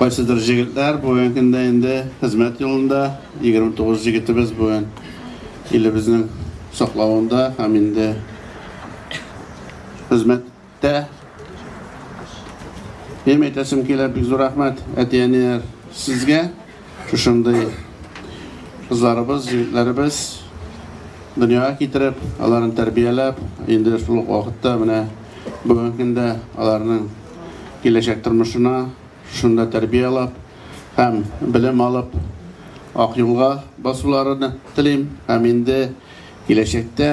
Кайсыдыр җегетләр бүген көндә инде хезмәт юлында, 29 җегетебез бүген илебезнең саклавында һәм инде хезмәттә. Минем әйтәсем килә, бик зур рәхмәт, әти-әниләр, сезгә. Шушындый кызларыбыз, егетләребез дөньяга китереп, аларны тәрбияләп, инде шул ук вакытта менә бүгенге көндә аларның киләчәк тормышына шунда тәрбияләп һәм белем алып ак юлга басуларыны телим һәм инде киләчәктә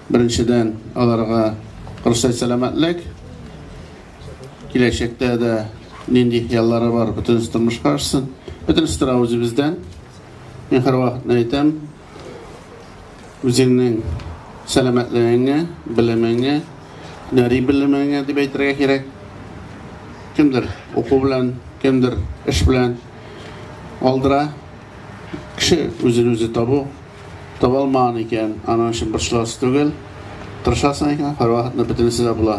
Беренчедән, аларга рөхсәт сәламәтлек, киләчәктә дә нинди хыяллары бар, бөтенесе тормышка ашсын. Бөтенесе тора үзебездән. Мин һәрвакытны әйтәм, үзеңнең сәламәтлегеңә, белемеңә, һөнәри белемеңә дип әйтергә кирәк. Кемдер уку белән, кемдер эш белән алдыра. Кеше үзен үзе табу Таба алмаган икән, аның өчен борчыласы түгел. Тырышасың икән, һәрвакытны бөтенесе дә була.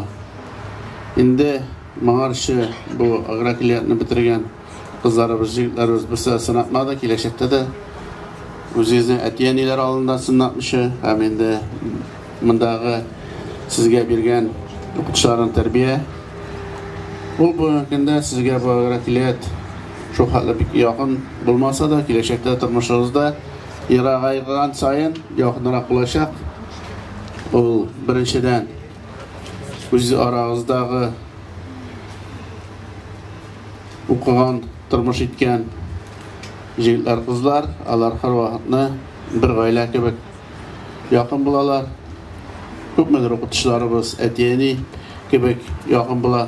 Инде моңарчы бу агрокилиятны бетергән кызларыбыз, җегетләребез берсе дә сынатмады, киләчәктә дә үзегезнең әти-әниләр алдында сынатмыйча һәм инде мондагы сезгә биргән укытучыларның тәрбия ул бүгенге көндә сезгә бу агрокилият шулхәтле бик якын булмаса да, киләчәктә тормышыгызда Ерагайган саен якынрак булачак. Ул беренчедән үз арагыздагы укыган, тормыш иткән җегетләр, кызлар, алар һәрвакытны бер гаилә кебек якын булалар. Күпмедер укытучыларыбыз әти-әни кебек якын була.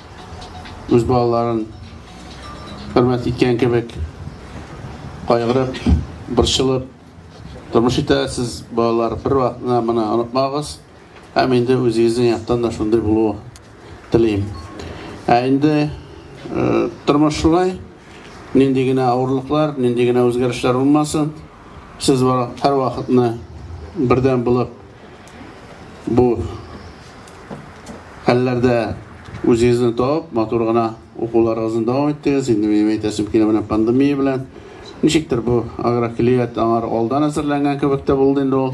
үз балаларын хөрмәт иткән кебек кайгырып, борчылып тормыш итәсез, балалар, бер вакытны моны онытмагыз. Һәм инде үзегезнең яктан да шундый булу телим. Ә инде тормыш шулай, нинди генә авырлыклар, нинди генә үзгәрешләр булмасын, Сез барак һәр вакытны бердәм булып бу хәлләрдә үзегезне табып, матур гына укуларыгызны дәвам иттегез. Инде минем әйтәсем килә менә пандемия белән. Ничектер бу агрокөллият аңар алдан әзерләнгән кебек тә булды инде ул.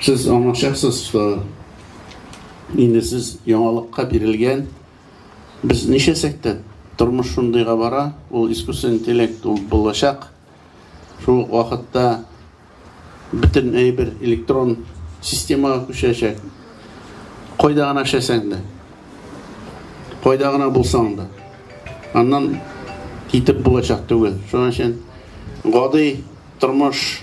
Сез аңлашасыз, что инде сез яңалыкка бирелгән. Без ничәсәк тә тормыш шундыйга бара, ул искусственный интеллект ул булачак. Шул ук вакытта бөтен әйбер электрон системага күчәчәк. Кайда гына эшләсәң дә, кайда гына булсаң да, аннан китеп булачак түгел. Шуның өчен гади тормыш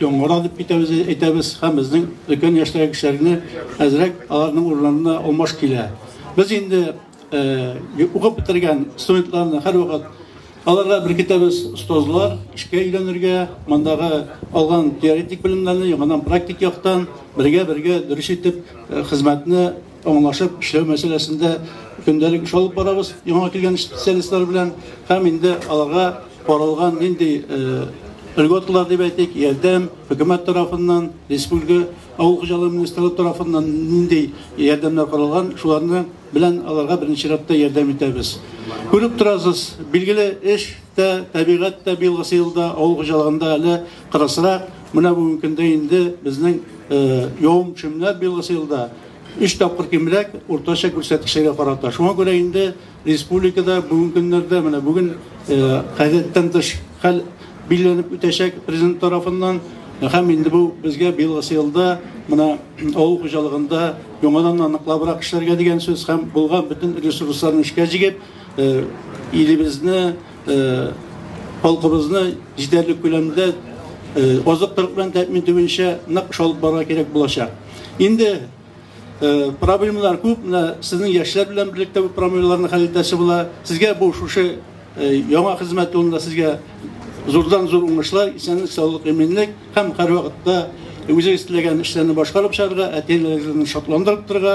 Яңгыра дип әйтәбез, әйтәбез һәм безнең өлкән яшьтәге кешеләрне әзрәк аларның урынына алмаш килә. Без инде э, укып бетергән студентларны һәрвакыт аларга беркетәбез остазлар эшкә өйрәнергә, мондагы алган теоретик белемнәрне яңадан практик яктан бергә-бергә дөрес итеп э, хезмәтне Аңлашып эшләү мәсьәләсендә көндәлек эш алып барабыз яңа килгән специалистлар белән һәм инде аларга каралган нинди льготалар дип әйтик, ярдәм хөкүмәт тарафыннан, республика авыл хуҗалыгы министрлыгы тарафыннан нинди ярдәмнәр каралган, шуларны белән аларга беренче чиратта ярдәм итәбез. Күреп торасыз, билгеле эш тә, табигать тә быелгы елда авыл хуҗалыгында әле кырысрак. Менә бүгенге көндә инде безнең явым-төшемнәр быелгы елда Өч тапкыр кимрәк уртача күрсәткечләргә карата. Шуңа күрә инде республикада бүгенге көннәрдә менә бүген гадәттән тыш хәл билгеләнеп үтәчәк президент тарафыннан һәм инде бу безгә быелгысы елда менә авыл хуҗалыгында яңадан аныклабрак эшләргә дигән сүз һәм булган бөтен ресурсларны эшкә җигеп илебезне халкыбызны җитәрлек күләмдә азык-төлек белән тәэмин итү буенча нык эш алып барырга кирәк булачак. Инде э, проблемалар күп, менә сезнең яшьләр белән берлектә бу проблемаларны хәл итәсе була. Сезгә бу шушы э, яңа хезмәт юлында сезгә зурдан зур уңышлар, исәнлек, саулык, иминлек һәм һәрвакытта үзегез теләгән эшләрне башкарып чыгарга, әти-әниләрегезне шатландырып торырга,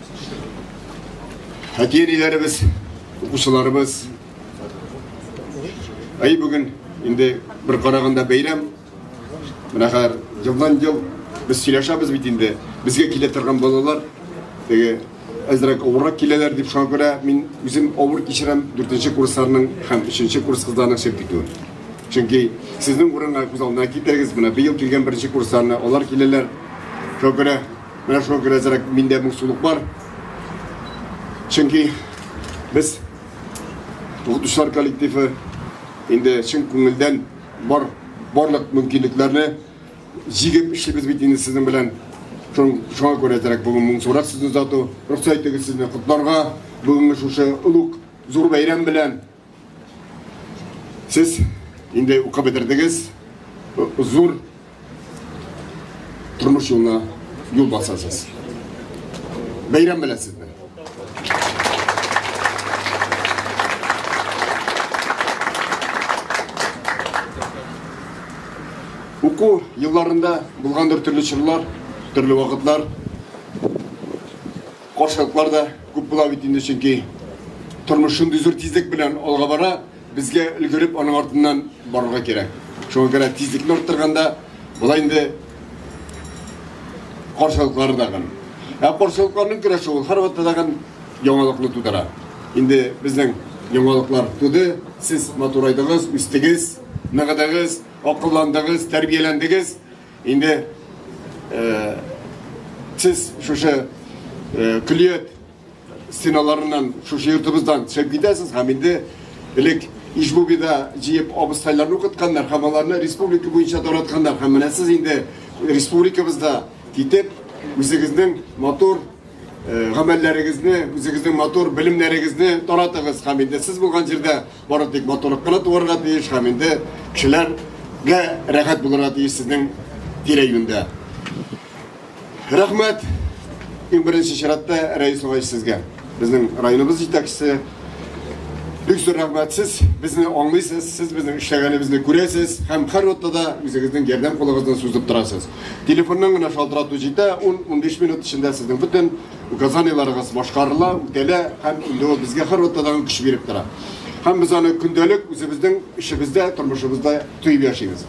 Әти-әниләребез, укучыларыбыз. Әй бүген инде бер караганда бәйрәм. Менә хәзер елдан ел без сөйләшәбез бит инде. Безгә килә торган балалар теге әзрәк авыррак киләләр дип шуңа күрә мин үзем авыр кичерәм 4нче курсларның һәм 3нче курс кызларының сөп китүен. Чөнки сезнең урынга күз алдына китерегез, менә быел килгән 1нче курсларны алар киләләр. Шуңа күрә Менә шуңа күрә әзрәк миндә моңсулык бар. Чөнки без укытучылар коллективы инде чын күңелдән бар барлык мөмкинлекләрне җигеп эшлибез бит инде сезнең белән. Шуңа күрә әзрәк бүген моңсурак сүз озату. Рөхсәт итегез сезне котларга бүгенге шушы олуг зур бәйрәм белән. Сез инде укып бетердегез, зур тормыш юлына юл басасыз. Бәйрәм беләсез. Уку елларында булгандыр төрле чорлар, төрле вакытлар. Каршылыклар да күп була бит инде, чөнки тормыш шундый зур тизлек белән алга бара, безгә өлгереп аның артыннан барырга кирәк. Шуңа күрә тизлекне арттырганда болай инде каршылыклары да гын. Ә каршылыкларның көрәше ул һәрвакытта да гын яңалыкны тудыра. Инде безнең яңалыклар туды, сез матурайдыгыз, үстегез, ныгыдыгыз, акылландыгыз, тәрбияләндегез. Инде сез шушы көллият стеналарыннан, шушы йортыбыздан төшеп китәсез һәм инде элек Ижбубида җыеп абыстайларны укытканнар һәм аларны республика буенча таратканнар һәм менә сез инде республикабызда китеп үзегезнең матур гамәлләрегезне, үзегезнең матур белемнәрегезне таратыгыз һәм инде сез булган җирдә Бары тик матурлык кына туарга тиеш һәм инде кешеләргә рәхәт булырга тиеш сезнең тирә-юньдә. Рәхмәт, иң беренче чиратта Рәис Угач сезгә. Безнең районыбыз җитәкчесе. Бик зур рәхмәт, сез безне аңлыйсыз, сез безнең эшләгәнебезне күрәсез һәм һәрвакытта да үзегезнең ярдәм кулыгызны сузып торасыз. Телефоннан гына шалтырату җитә, ун-унбиш минут эчендә сезнең бөтен Указаниеләрегез башкарыла, үтәлә һәм инде ул безгә һәрвакытта да көч биреп тора. Һәм без аны көндәлек үзебезнең эшебездә, тормышыбызда тоеп яшибез.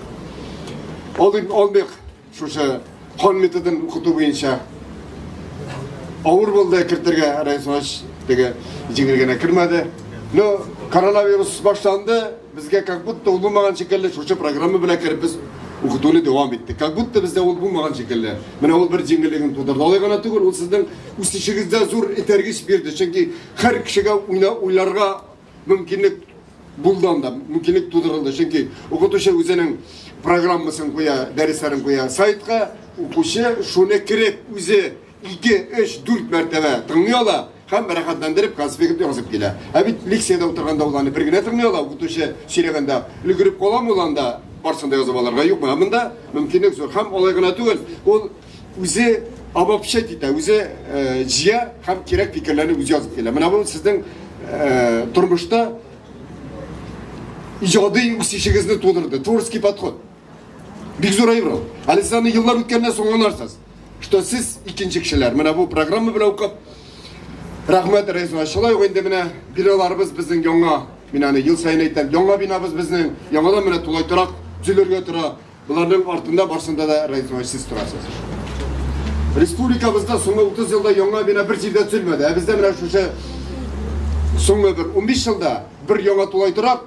Алдык, алдык шушы кан методын укыту буенча авыр булды кертергә Рәис Вач теге җиңел генә кермәде. Но коронавирус башланды, Безгә как будто ул булмаган шикелле, шушы программа белән кереп без укытуны дәвам иттек. Как будто бездә ул булмаган шикелле. Менә ул бер җиңеллеген тудырды. Алай гына түгел, ул сезнең үсешегездә зур этәргеч бирде. Чөнки һәр кешегә уйна, уйларга мөмкинлек булды анда, мөмкинлек тудырылды. Чөнки укытучы үзенең программасын куя, дәресләрен куя сайтка, укучы шуны кереп үзе ике, өч, дүрт мәртәбә тыңлый ала һәм рәхәтләндереп конспект язып килә. Ә бит лекциядә утырганда ул аны бер генә тыңлый ала, укытучы сөйләгәндә өлгереп каламы ул анда барсын да язып алырга юкмы? Ә монда мөмкинлек зур һәм алай гына түгел, ул үзе обобщать итә, үзе э, җыя һәм кирәк фикерләрне үзе язып килә. Менә бу сезнең э, тормышта иҗади үсешегезне тудырды, творческий подход. Бик зур әйбер ул. Әле сез аны еллар үткәннән соң аңларсыз, что сез икенче кешеләр. Менә бу программа белән укып, рәхмәт Рәйсуа. Шулай ук инде менә биналарыбыз безнең яңа, мин аны ел саен әйтәм, яңа бинабыз безнең, яңадан менә тулай торак төзелергә тора. Боларның артында барсында да Рәйсуа сез торасыз. Республикабызда соңгы 30 елда яңа бина бер җирдә төзелмәде. Ә бездә менә шушы соңгы бер 15 елда бер яңа тулай торак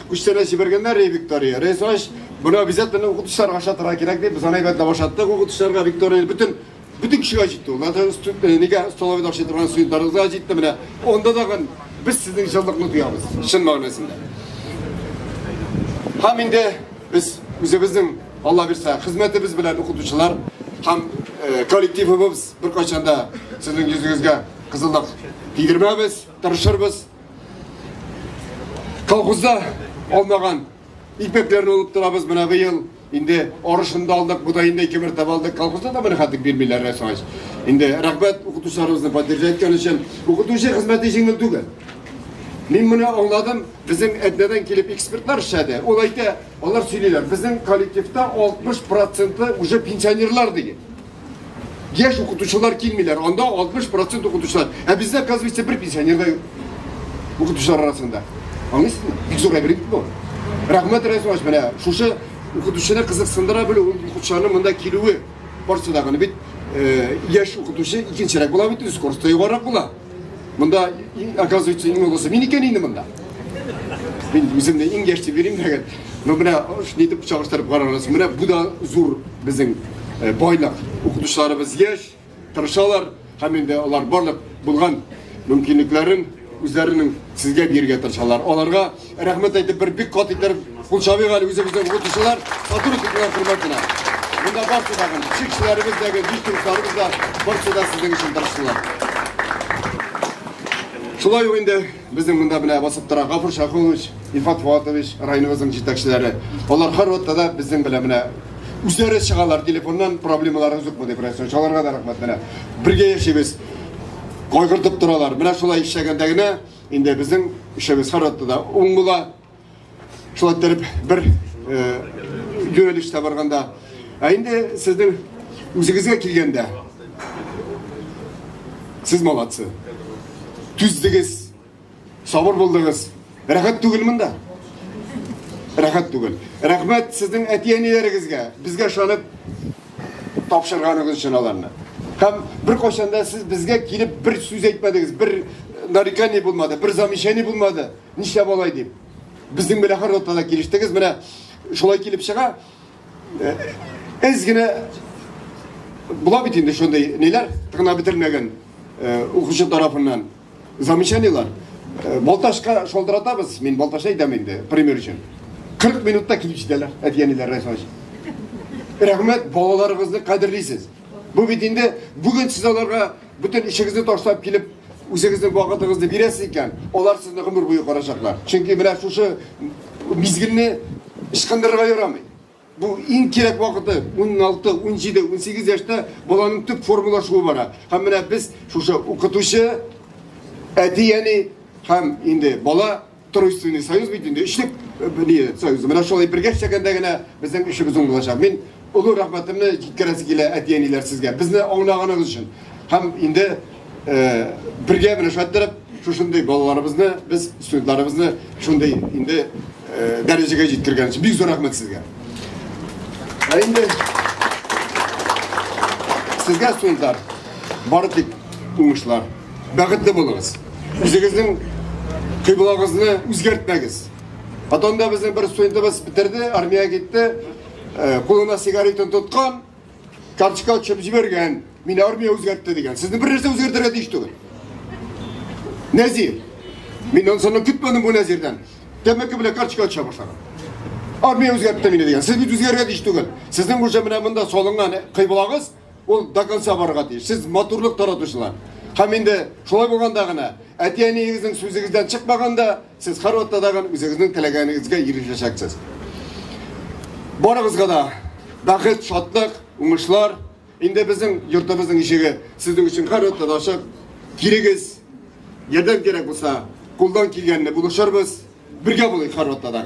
Күчтәнәч җибәргәннәр, ди Виктория. Рәйсач, моны обязательно укытучыларга ошатырга кирәк дип, без аны әйбәтләп ошаттык укытучыларга. Виктория бөтен бөтен кешегә җитте ул. Нәтан студ- э, нигә столовыйда ашый торган студентларыбызга җитте менә. Анда тагын без сезнең җылылыкны тоябыз, чын мәгънәсендә. Һәм инде без үзебезнең, Алла бирсә, хезмәтебез белән укытучылар һәм э, коллективыбыз беркайчан да сезнең йөзегезгә кызыллык тидермәбез, тырышырбыз. Колхозда алмаган икмәкләрне алып торабыз менә быел. Инде арышында алдык, буда инде ике мәртәбә алдык. Колхозда да менә хәтер бирмиләр рәсвач. Инде рәхмәт укытучыларыбызны поддержать иткән өчен. Укытучы хезмәте җиңел түгел. Мин моны аңладым, безнең әднәдән килеп экспертлар эшләде. Ул әйтә, алар сөйлиләр, безнең коллективта 60 проценты уже пенсионерлар диген. Яшь укытучылар килмиләр, анда 60 процент укытучылар. Ә бездә, оказывается, бер пенсионер да юк. Укытучылар арасында. Аңлыйсызмы? Бик зур әйбер бит бу. Рәхмәт Рәсваш, менә шушы укытучыны кызыксындыра белү, ул укытучыларның монда килүе барысы да гына бит яшь укытучы икенчерәк була бит, үз скоростьта югарырак була. Монда, оказывается, иң олысы мин икән инде монда. Мин үземне иң яшь дип йөрим дәгән. Ну менә шуны итеп чагыштырып карагыз. Менә бу да зур безнең э, байлык. Укытучыларыбыз яшь, тырышалар һәм инде алар барлык булган мөмкинлекләрен үзләренең сезгә бирергә тырышалар. Аларга Рәхмәт әйтеп бер бик кат итер кул чабыйк әле үзебезнең укытучылар, матур укытучылар хөрмәтенә. Монда барсы да гына, чикчеләребез дә, диструкларыбыз да, барсы да сезнең өчен тырыштылар. Шулай ук инде безнең монда менә басып тора Гафур Шахулович, Ифат Фуатович, районыбызның җитәкчеләре. Алар һәрвакытта да безнең белән менә үзләре чыгалар телефоннан проблемаларыгыз юкмы дип рәсән чаларга да рәхмәт менә бергә яшибез кайгыртып торалар менә шулай эшләгәндә генә Инде безнең эшебез һәрвакытта да уң була. Шулай итеп бер юнәлештә барганда, ә инде сезнең үзегезгә килгәндә, сез молодцы. Түздегез, сабыр булдыгыз. Рәхәт түгел монда. Рәхәт түгел. Рәхмәт сезнең әти-әниләрегезгә, безгә ышанып тапшырганыгыз өчен аларны. Һәм беркайчан да сез безгә килеп бер сүз әйтмәдегез, бер э, нарекание булмады, бер замечание булмады. Нишләп алай дип? Безнең белән һәр ноктада килештегез. Менә шулай килеп чыга. Э, Эз генә була бит инде шундый ниләр, тыгына бетермәгән э, укучы тарафыннан. Замечаниелар. Э, Балташка шолдыратабыз, мин Балташка әйтәм инде, пример өчен. 40 минутта килеп җитәләр, әтиәниләр рәхмәт. Рәхмәт, балаларыгызны кадерлисез. Бу бит инде бүген сез аларга бөтен ишегезне ташлап килеп, үзегезнең вакытыгызны бирәсез икән, алар сезне гомер буе карачаклар. Чөнки менә шушы мизгелне ычкындырырга ярамый. Бу иң кирәк вакыты, 16, 17, 18 яшьтә баланың төп формалашуы бара. Һәм менә без шушы укытучы, әти-әни һәм инде бала Тройственный союз бит инде өчлек э, союз. Менә шулай бергә эшләгәндә генә безнең эшебез уң булачак. Мин олы рәхмәтемне җиткерәсе килә әти-әниләр сезгә. Безне аңлаганыгыз өчен. Һәм инде бергә менә шулай иттереп шушындый балаларыбызны без студентларыбызны шундый инде дәрәҗәгә җиткергән өчен бик зур рәхмәт сезгә ә инде сезгә студентлар бары тик уңышлар бәхетле булыгыз үзегезнең кыйблагыгызны үзгәртмәгез потом да безнең бер студентыбыз бетерде армиягә китте кулына сигаретін тоткан Карточка төшеп җибәргән. Мин армия үзгәртте дигән. Сезне бер нәрсә үзгәртергә тиеш түгел. Нәзир. Мин ансаны көтмәдем бу Нәзирдән. Тәмәке белән карточка төшә башлаган. Армия үзгәртте мине дигән. Сез бит үзгәрергә тиеш түгел. Сезнең уже менә монда салынган кыйблагыз ул до конца барырга тиеш. Сез матурлык таратучылар. Һәм инде шулай булганда гына әти-әниегезнең сүзегездән чыкмаганда Сез һәрвакытта да үзегезнең теләгәнегезгә ирешәчәксез. Барыгызга да бәхет, шатлык, уңышлар. Инде безнең йортыбызның ишеге сезнең өчен һәрвакытта да ачык. Килегез, ярдәм кирәк булса, кулдан килгәнне булышырбыз. Бергә булыйк һәрвакытта да.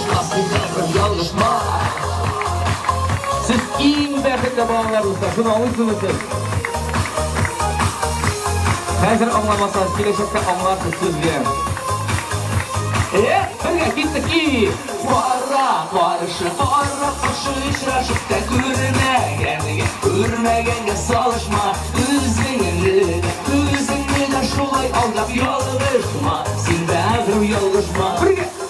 Сез иң бәхетле балалар дуслар, шуны аңлыйсызмы сез? Хәзер аңламасагыз, киләчәктә аңларсыз сезгә. Э, бергә киттек и! Кара, каршы, кара, каршы очрашып та күрмәгәнгә, күрмәгәнгә салышма, үзеңне дә, үзеңне дә шулай алдап ялгышма, син бәгырь ялгышма. Бергә!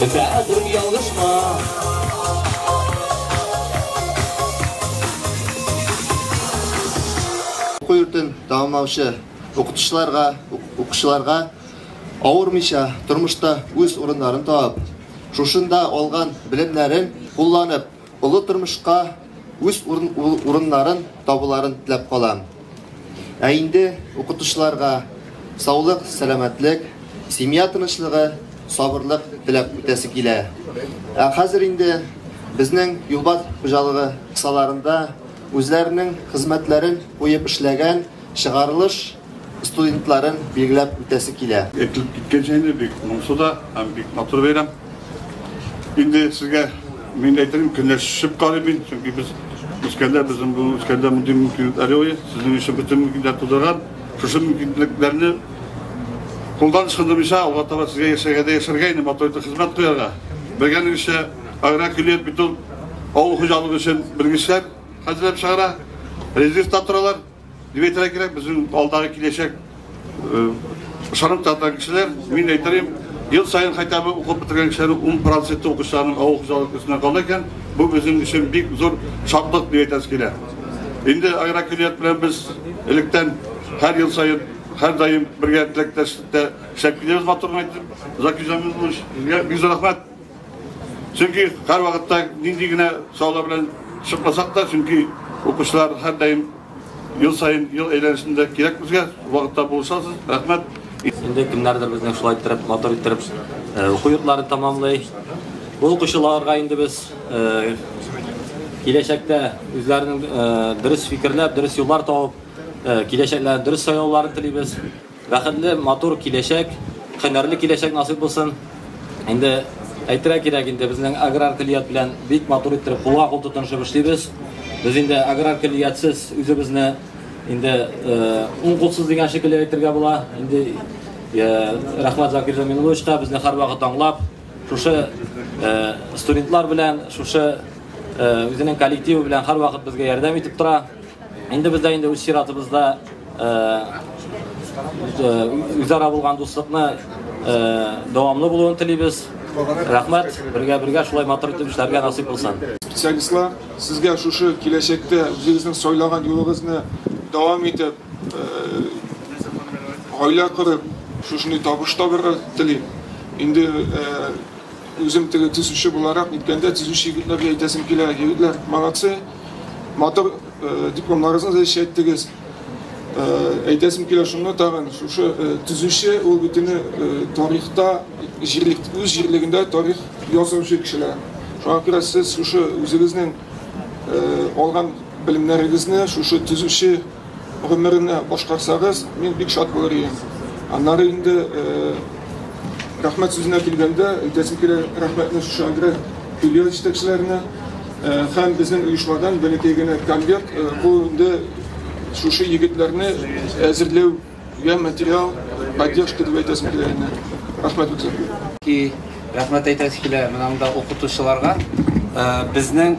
Бәгърем ялгышма. Уку йортын тәмамлаучы укытучыларга, укучыларга авырмыйча тормышта үз урыннарын табып, шушында алган белемнәрен кулланып, Олы тормышка үз урыннарын табуларын теләп калам. Ә инде укытучыларга саулык, сәламәтлек, семья тынычлыгы, сабырлык теләп үтәсе килә. Ә хәзер инде безнең Юлбат хуҗалыгы кысаларында үзләренең хезмәтләрен куеп эшләгән Чыгарылыш студентларын билгеләп үтәсе килә. Әйтелеп киткәнчә инде, бик моңсу да һәм бик матур бәйрәм. Инде сезгә мин дә әйтермен, көнләшеп карыйм мин, чөнки без үскәндә, безнең бу үскәндә мондый мөмкинлекләр юк иде. Сезнең өчен бөтен мөмкинлекләр тудырган. Шушы мөмкинлекләрне кулдан ычкындырмыйча, алга таба сезгә яшәргә дә яшәргә инде, матур итеп хезмәт куярга. Белгәнегезчә, агрокөллият бит ул авыл хуҗалыгы өчен белгечләр. Хәзерләп чыгара, резервта торалар. Дип әйтергә кирәк, безнең алдагы киләчәк ышанып тартан кешеләр, мин әйтәм, ел саен хотя бы укып бетергән кешеләр 10 проценты укучыларның авыл хуҗалык өстенә кала икән, бу безнең өчен бик зур шатлык дип әйтәсе килә. Инде агрокөллият белән без электән һәр ел саен һәр даим бергә теләктәшлектә эшләп киләбез матур әйтеп. Закизамин булыш, бик зур рәхмәт. Чөнки һәрвакытта нинди генә сораулар белән чыкмасак та, чөнки укучылар һәрдаим ел саен, ел әйләнешендә кирәк безгә, вакытта булышасыз. Рәхмәт. Инде кемнәрдер безнең шулай иттереп, матур иттереп уку йортларын тәмамлый. Бу укучыларга инде без киләчәктә үзләренең дөрес фикерләп, дөрес юллар табып, киләчәкләрен дөрес сайлауларын телибез. Бәхетле, матур киләчәк, һөнәрле киләчәк насыйп булсын. Инде әйтергә кирәк инде, безнең аграр көллият белән бик матур иттереп кулга-кул тотынышып эшлибез. Без инде аграр көллиятсез үзебезне инде уң кулсыз дигән шикелле әйтергә була. Инде рәхмәт Закир Зәмин уловичка, безне һәрвакыт аңлап, шушы студентлар белән, шушы үзенең коллективы белән һәрвакыт безгә ярдәм итеп тора. Инде бездә инде үз чиратыбызда үзара булган дуслыкны дәвамлы булуын телибез. Рәхмәт, бергә бергә шулай матур итеп эшләргә насыйп булсын. Специалистлар, сезгә шушы киләчәктә үзегезнең сайлаган юлыгызны дәвам итеп, гаилә корып, шушындый табыш табырга телим. Инде үзем теге төзүче буларак, ниткәндә төзүче егетләргә әйтәсем килә, егетләр, молодцы! Матур э, дипломларыгызны да ишәйттегез. Э, әйтәсем килә шуны тагын, шушы э, төзүче ул битене тарихта, җирлек, үз җирлегендә тарих язучы кешеләр. Шуңа күрә сез шушы үзегезнең алган белемнәрегезне шушы төзүче гомеренә башкарсагыз, мин бик шат булыр ием. Аннары инде рәхмәт сүзенә килгәндә, әйтәсем килә рәхмәтне шушы Агре филиал җитәкчеләренә һәм безнең оешмадан бәләкәй генә конверт, бу инде шушы егетләрне әзерләү я материал поддержка дип әйтәсем килә инде. Рәхмәт үтә. И рәхмәт әйтәсе килә менә монда укытучыларга. Безнең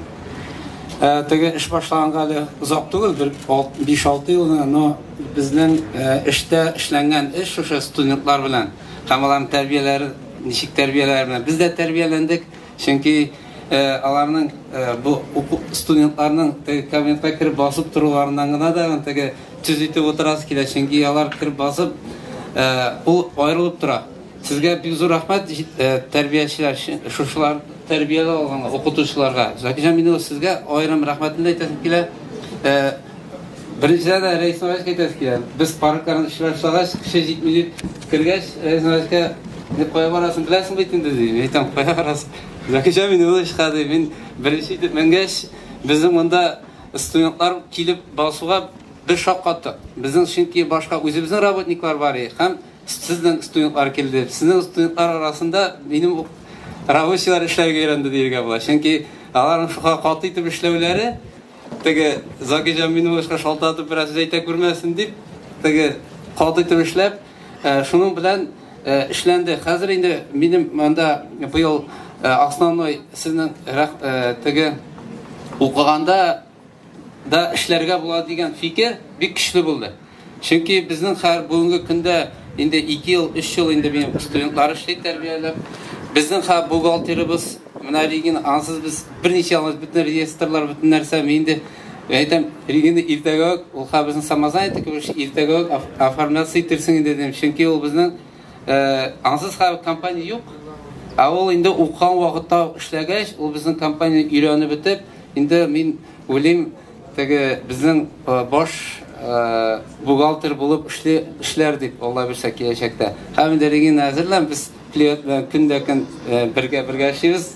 Э, теге эш башланганга әле озак түгел, бер 5-6 ел гына, но безнең э, эштә эшләнгән эш шушы студентлар белән, һәм аларның тәрбияләре, ничек тәрбияләре белән. Без дә тәрбияләндек, чөнки э, аларның бу студентларның теге кабинетка кереп басып торуларыннан гына да теге төз итеп утырасы килә, чөнки алар кереп басып, ул аерылып тора. Сезгә бик зур рәхмәт тәрбиячеләр өчен, шушылар тәрбияләп алган укытучыларга. Закирҗан Минева сезгә аерым рәхмәтемне әйтәсем килә. Беренчедән дә Рәис Нараевка әйтәсем килә. Без паркларны эшләп чыгагач, кеше җитми дип кергәч, Рәис Нараевка Ник кая барасың беләсең бит инде ди. Әйтәм, кая барасың? Закирҗан Минева чыга ди. Мин беренче итеп менгәч, безнең монда студентлар килеп басуга бер шаккаттык. Безнең чөнки башка үзебезнең работниклар бар иде һәм Сезнең студентлар килде. Сезнең студентлар арасында минем ук рабочийлар эшләргә өйрәнде диергә була. Чөнки аларның шуга каты итеп эшләүләре теге Закиҗан мине башка шалтатып бераз әйтә күрмәсен дип, теге каты итеп эшләп, э, шуның белән э, эшләнде. Хәзер инде минем монда быел э, основной сезнең теге укыганда да эшләргә була дигән фикер бик көчле булды. Чөнки безнең хәр бүгенге көндә инде 2 ел, 3 ел инде мин студентлар эшли тәрбияләп. Безнең хәр бухгалтерыбыз менә Регина, ансыз без берничә алмыз бөтен реестрлар, бөтен нәрсә мин инде әйтәм, Регина иртәгә үк ул хәр безнең самозанятый кебек иртәгә үк оформляться итерсең инде дим. Чөнки ул безнең Ансыз хәл компания юк. Ә ул инде укыган вакытта эшләгәч, ул безнең компания өйрәнеп бетеп, инде мин уйлыйм, теге безнең баш бухгалтер булып эшли эшләр дип Алла бирсә киләчәктә. Һәм инде Регина әзерлән без клиент белән көндә көн бергә-бергә эшлибез.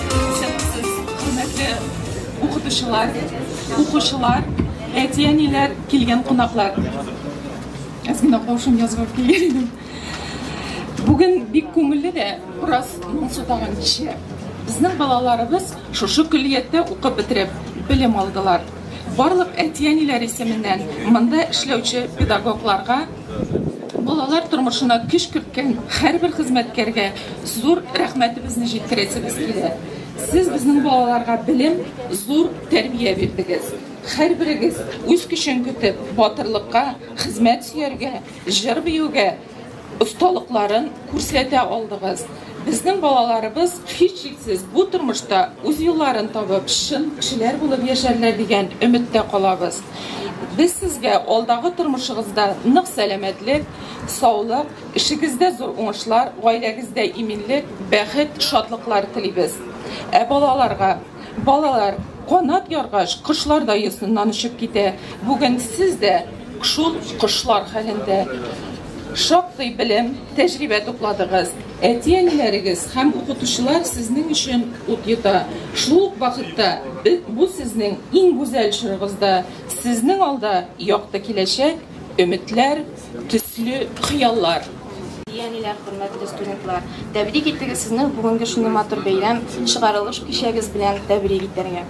укытучылар, укучылар, әти-әниләр, килгән кунаклар. Әз генә каушым язып килгән идем. Бүген бик күңелле дә, бераз моңсу тагын кичә. Безнең балаларыбыз шушы көллияттә укып бетереп, белем алдылар. Барлык әти-әниләр исеменнән монда эшләүче педагогларга Балалар тормышына көч керткән һәрбер хезмәткәргә зур рәхмәтебезне җиткерәсебез килә. Сез безнең балаларга белем, зур тәрбия бирдегез. Һәрберегез үз көчен көтеп, батырлыкка, хезмәт сөяргә, җыр биюгә осталыкларын күрсәтә алдыгыз. Безнең балаларыбыз, һичшиксез, бу тормышта үз юлларын табып, чын кешеләр булып яшәрләр дигән өметтә калабыз. Без сезгә алдагы тормышыгызда нык сәламәтлек, саулык, эшегездә зур уңышлар, гаиләгездә иминлек, бәхет, шатлыклар телибез. Ә балаларга? Балалар, канат яргач, кошлар да йосыннан очып китә. Бүген сез дә шул кошлар хәлендә. Шактый белем, тәҗрибә тупладыгыз. Әти-әниләрегез һәм укытучылар сезнең өчен ут йота. Шул ук вакытта бу сезнең иң гүзәл чорыгызда. Сезнең алда якты киләчәк, өметләр, Төсле хыяллар. Әни-әниләр, хөрмәтле студентлар! Тәбрик итегез сезне бүгенге шундый матур бәйрәм, чыгарылыш кичәгез белән тәбрик итәргә.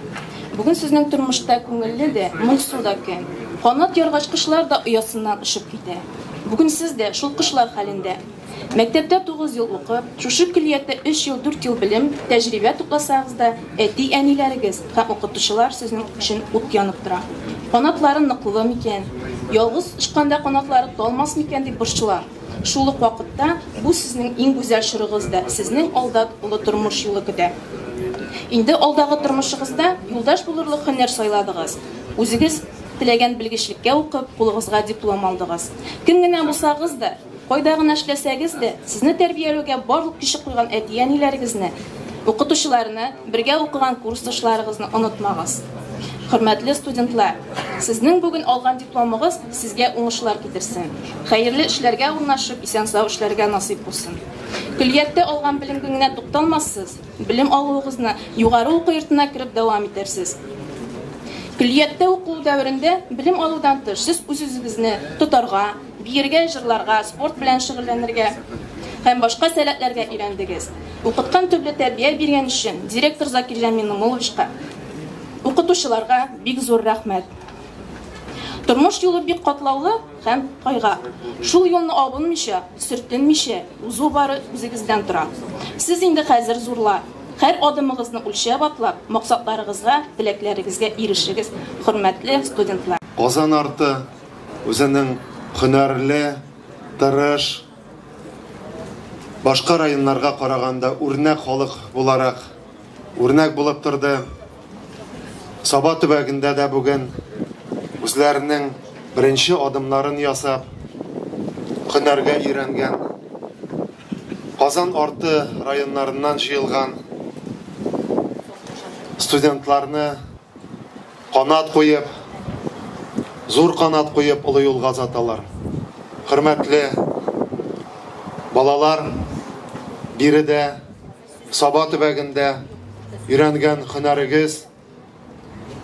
Бүген сезнең тормышта күңелле дә, моңсу да көн. Канат яргач кошлар да оясыннан очып китә. Бүген сез дә шул кошлар хәлендә. Мәктәптә тугыз ел укып, шушы көллияттә өч ел, дүрт ел белем, тәҗрибә тупласагыз да, әти-әниләрегез һәм укытучылар сезнең өчен ут янып тора. Канатлары ныклы микән? Ялгыз очканда канатлары талмас микән дип борчыла. Шул ук вакытта бу сезнең иң гүзәл чорыгыз да, сезнең алда олы тормыш юлы көтә. Инде алдагы тормышыгызда юлдаш булырлык һөнәр сайладыгыз, үзегез теләгән белгечлеккә укып, кулыгызга диплом алдыгыз. Кем генә булсагыз да, Кайда гына эшләсәгез дә, сезне тәрбияләүгә барлык көче куйган әти-әниләрегезне, укытучыларны, бергә укыган курсташларыгызны онытмагыз. Хөрмәтле студентлар, сезнең бүген алган дипломыгыз сезгә уңышлар китерсен, хәерле эшләргә урнашып, исән-сау эшләргә насыйп булсын. Көллияттә алган белемгеңнә тукталмассыз, белем алуыгызны югары уку йортына кереп дәвам итәрсез. Көллияттә уку дәверендә белем алудан тыш сез үзегезне тотарга, Биергә, җырларга, спорт белән шөгыльләнергә һәм башка сәләтләргә өйрәндегез. Укыткан төрле тәрбия биргән өчен директор Закирҗан Минномуловичка, укытучыларга бик зур рәхмәт. Тормыш юлы бик катлаулы һәм кайга. Шул юлны абынмыйча, сөртенмичә узу бары үзегездән тора. Сез инде хәзер зурлар. Һәр адымыгызны үлчәп атлап, максатларыгызга, теләкләрегезгә ирешегез, хөрмәтле студентлар! Казан арты, Үзенең һөнәрле, тырыш, башка районнарга караганда үрнәк халык буларак үрнәк булып торды. Саба төбәгендә дә бүген үзләренең беренче адымнарын ясап, һөнәргә өйрәнгән, Казан арты районнарыннан җыелган студентларны Канат куеп, зур канат куеп олы юлга озаталар. Хөрмәтле балалар, биредә Саба төбәгендә өйрәнгән хөнәрегез,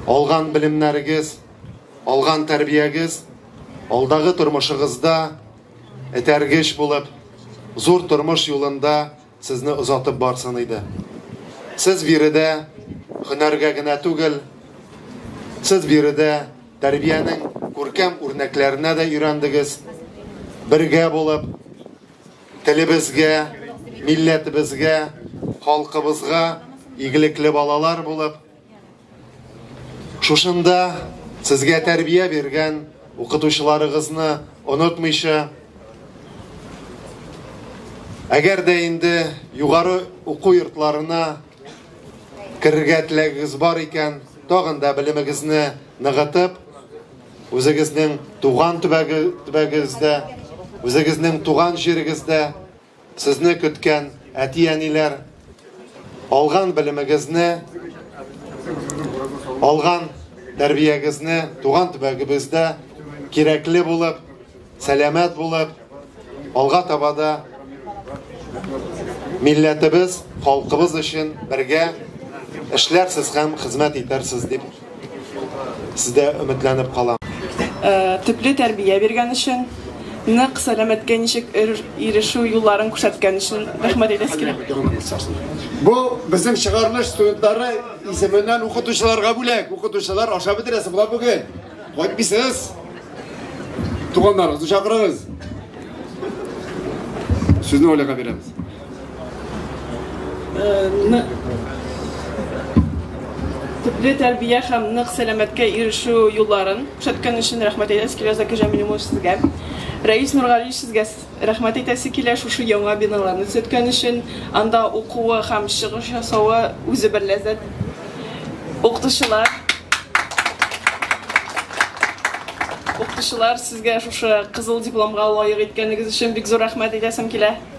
алган белемнәрегез, алган тәрбиягез алдагы тормышыгызда этәргеч булып, зур тормыш юлында Сезне озатып барсын иде. Сез биредә һөнәргә генә түгел, сез биредә тәрбиянең күркәм үрнәкләренә дә өйрәндегез. Бергә булып телебезгә, милләтебезгә, халкыбызга игелекле балалар булып, Шушында сезгә тәрбия биргән укытучыларыгызны онытмыйча, әгәр дә инде югары уку йортларына керергә теләгегез бар икән, тагын да белемегезне ныгытып, үзегезнең туган төбәгегездә, үзегезнең туган җирегездә Сезне көткән әти-әниләр, алган белемегезне, алган тәрбиягезне туган төбәгебездә кирәкле булып, сәламәт булып, алга таба да милләтебез, халкыбыз өчен бергә эшләрсез һәм хезмәт итәрсез дип Сездә өметләнеп калам. Төпле тәрбия биргән өчен, нык сәламәткә ничек ирешү юлларын күрсәткән өчен рәхмәт әйтәсе килә. Бу безнең чыгарылыш студентлары исеменнән укытучыларга бүләк. Укытучылар, ашап бетерәсе була бүген. Кайтмыйсыз. Туганнарыгызны чакырыгыз. Сүзне Оляга бирәбез. Төпле тәрбия һәм нык сәламәткә ирешү юлларын күрсәткән өчен рәхмәт әйтәсе килә Закир Җәмил улы сезгә. Рәис Нургалиевич сезгә рәхмәт әйтәсе килә шушы яңа биналарны төзеткән өчен. Анда укуы һәм чыгыш ясавы үзе бер ләззәт. Укытучылар Укытучылар сезгә шушы кызыл дипломга лаек иткәнегез өчен бик зур рәхмәт әйтәсем килә.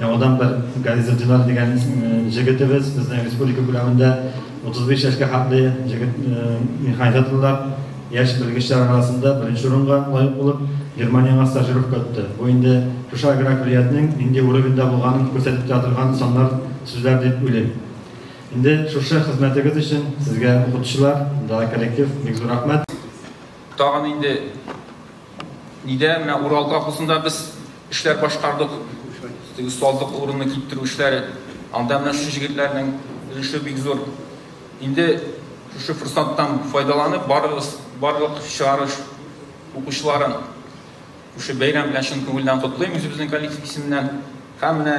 Яңадан бер Гариз Эльдинар дигән җегетебез безнең республика күләмендә 35 яшькә хәтле җегет механизаторлар яшь белгечләр арасында беренче урынга лаек булып, Германиягә стажировка үтте. Бу инде шушы агракөллиятнең нинди уровеньда булганын күрсәтеп тә торган саннар, сүзләр дип уйлыйм. Инде шушы хезмәтегез өчен сезгә укытучылар да, коллектив бик зур рәхмәт. Тагын инде Нидә менә Урал колхозында без эшләр башкардык. Теге осталык урынны китерү эшләре. Анда менә шушы җегетләрнең өлеше бик зур. Инде шушы форсаттан файдаланып барыгыз, барлык чыгарыш укучыларын шушы бәйрәм белән чын күңелдән котлыйм үзебезнең коллектив исеменнән. Һәм менә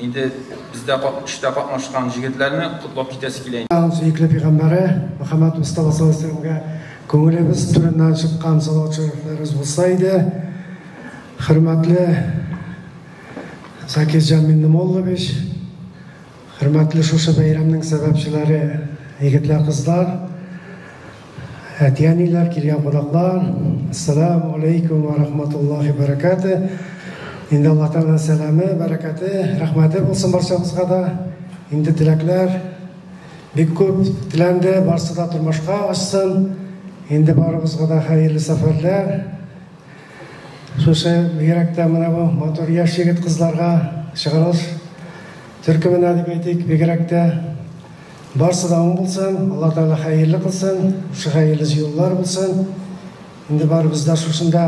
Инде бездә эштә катнашкан җегетләрне котлап китәсе килә. Сөекле пигамбәре Мөхәммәд Мостафа саллаллаһу алейһи вәсәләмгә күңелебез түреннән чыккан салават шәрифләребез булса иде. Хөрмәтле Закирҗан Миннемуллович, хөрмәтле шушы бәйрәмнең сәбәпчеләре, егетләр, кызлар! Әтиәниләр, килгән кунаклар, ассаламу алейкум ва рахматуллахи бәрәкәте. Инде Аллаһ Тәгаләнең сәламе, бәрәкәте, рәхмәте булсын барчабызга да. Инде теләкләр бик күп теләнде, барсы да тормышка ашсын. Инде барыбызга да хәерле сәфәрләр. Шушы бигрәктә менә бу матур яшь егет кызларга чыгарылыш төркеменә дип әйтик, бигрәктә Барсы да уң булсын, Алла Тәгалә хәерле кылсын, шәһәйле юллар булсын. Инде барыбыз да шушында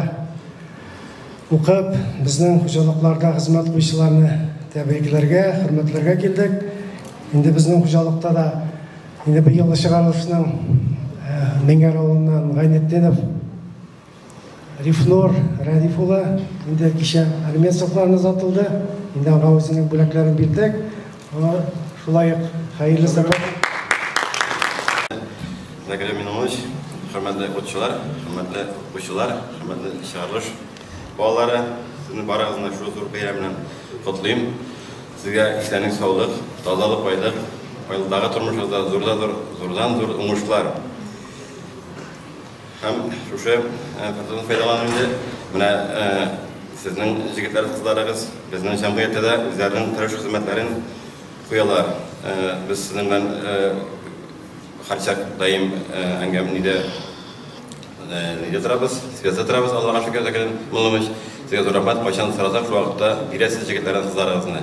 укып, безнең хуҗалыкларда хезмәт куючыларны тәбрикләргә, хөрмәтләргә килдек. Инде безнең хуҗалыкта да инде быел чыгарылышның Меңәр авылыннан Гайнетдинов Рифнур Рәдиф улы инде кичә алимент сакларын озатылды. Инде аңа үзенең бүләкләрен бирдек. Аңа шулай ук хәерле сәбәп. Зәгәрә Минуллович, хөрмәтле укучылар, хөрмәтле укучылар, хөрмәтле чыгарылыш балалары, сезне барыгызны шул зур бәйрәм белән котлыйм. Сезгә исәнлек, саулык, тазалык, байлык, байлыктагы тормышыгызда зурда зур, зурдан зур уңышлар. Һәм шушы фотодан файдаланып инде, менә сезнең җегетләр кызларыгыз безнең җәмгыятьтә дә үзләренең тырыш хезмәтләрен куялар. Без сезнең белән һәрчак даим әңгәмәдә нидә торабыз, связьда торабыз, Аллага шөкер, Закир Муллович. Сезгә зур рәхмәт, кайчан сорасак, шул вакытта бирәсез җегетләрне, кызларыгызны.